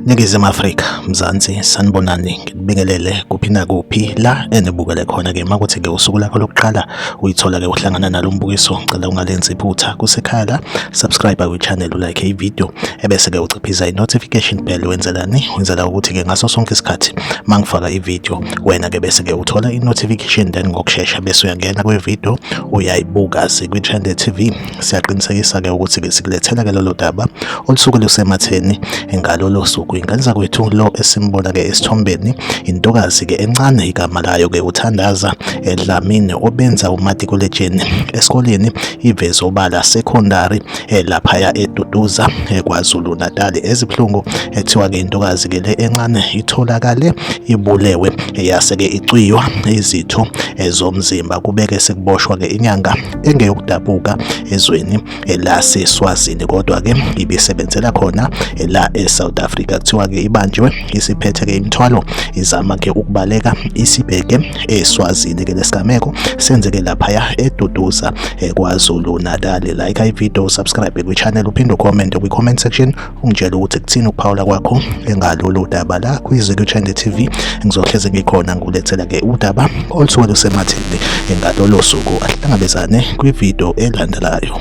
Ningizimu Afrika, Mzansi, sanibonani, ngikubingelele kuphi nakuphi la enibukele khona ke makuthi ke usuku lakho lokuqala uyithola ke uhlangana nalo mbukiso, ngicela ungalenzi iphutha kusekhaya la, subscribe ku channel like i video ebese ke uciphiza i notification bell wenzelani? Wenzela ukuthi ke ngaso sonke isikhathi mangifaka i video wena ke bese ke uthola i-notification then ngokushesha bese uyangena kwi-video uyayibuka sikwi-trend tv siyaqinisekisa ke ukuthi ke sikulethela ke lolo daba olusuke lusematheni ngalolo suku ingane zakwethu lo esimbona ke esithombeni intokazi ke encane igama layo ke uthandaza edlamini obenza umatikuletsheni esikoleni iveze obala secondary eh, laphaya eduduza eh, KwaZulu Natal ezibuhlungu ethiwa ke intokazi ke le encane itholakale ibulewe yase ke icwiywa izitho zomzimba kubeke sekuboshwa ke inyanga engeyokudabuka ezweni laseSwazini kodwa ke ibisebenzela khona la eSouth Africa kuthiwa ke ibanjwe isiphethe ke imithwalo izama ke ukubaleka isibheke eSwazini ke lesigameko senzeke laphaya eduduza eh, KwaZulu Natal like i video subscribe kwi channel uphinde comment kwi comment section ungitshela ukuthi kuthini ukuphawula kwakho engalolu daba la kwiZulu Channel TV ngizohleze ngikhona ngulethela ke udaba olusuke lusematheni engalolo suku ahlangabezane kwi video elandelayo